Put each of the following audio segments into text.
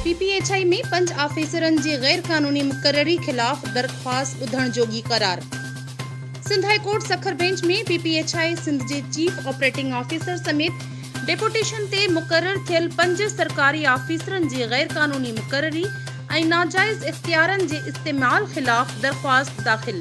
P P H I ۾ پنج آفيسرن جي غيرقانوني مقرري خلاف درخواست ٻڌڻ جوڳي قرار. Sindh high court Sukkur bench ۾ P P H I Sindh جي چيف آپريٽنگ آفيسر سميت ڊيپوٽيشن تي مقرر ٿيل پنج سرڪاري آفيسرن جي غيرقانوني مقرري ۽ ناجائز اختيارن جي استعمال خلاف درخواست داخل.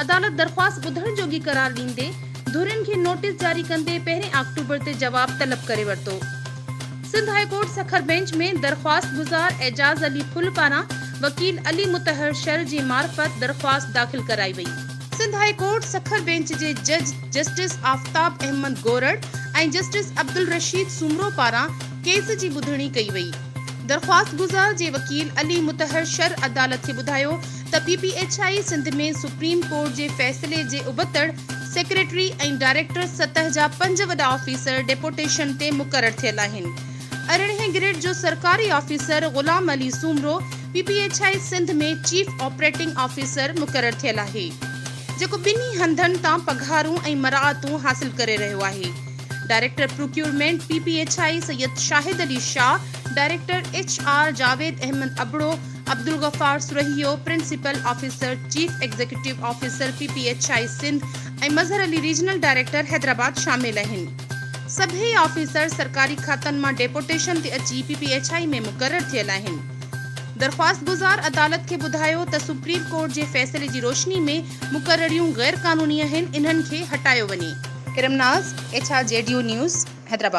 عدالت درخواست ٻڌڻ جوڳي قرار ڏيندي ڌرين کي نوٽيس جاري ڪندي پهرين آڪٽوبر تي جواب طلب ڪري ورتو. Sindh high court Sukkur bench ۾ درخواستگذار اعجاز علي ڦل پاران وڪيل علي مطهر شل جي معرفت درخواست داخل ڪرائي وئي. Sindh high court Sukkur bench جي جج جسٽس آفتاب احمد گورڙ ۽ جسٽس عبدالرشيد سومرو پاران ڪيس جي ٻڌڻي ڪئي وئي. درخواستگذار جي وڪيل علي مطهر شھر عدالت کي ٻڌايو ته P P H I Sindh ۾ supreme court جي فيصلي جي ابتڙ سيڪريٽري ۽ ڊائريڪٽر سطح جا پنج وڏا آفيسر ڊيپوٽيشن تي مقرر ٿيل آھن ارڙهين گريڊ جو سرڪاري officer Ghulam Ali Soomro P P H I Sindh ۾ chief operating officer مقرر ٿيل آھي جيڪو ٻنهي ھنڌن تان پگھارون ۽ مراعتون حاصل ڪري رھيو آھي. Director procurement P P H I Syed Shahid Ali Shah, director H R Javed Ahmed Abro, Abdul Ghaffar Sarhio, principal officer, chief executive officer P P H I Sindh ۽ Mazhar Ali regional director Hyderabad شامل اهن. سڀيئي آفيسر سرڪاري کاتن مان ڊيپوٽيشن تي اچي پي پي ايڇ آء ۾ مقرر ٿيل آهن. درخواستگذار عدالت کي ٻڌايو ته سپريم ڪورٽ جي فيصلي جي روشني ۾ مقرريون غير قانوني آهن انهن کي هٽايو وڃي. ارم ناز، ايڇ آر جي ڊيو نيوز، حيدرآباد.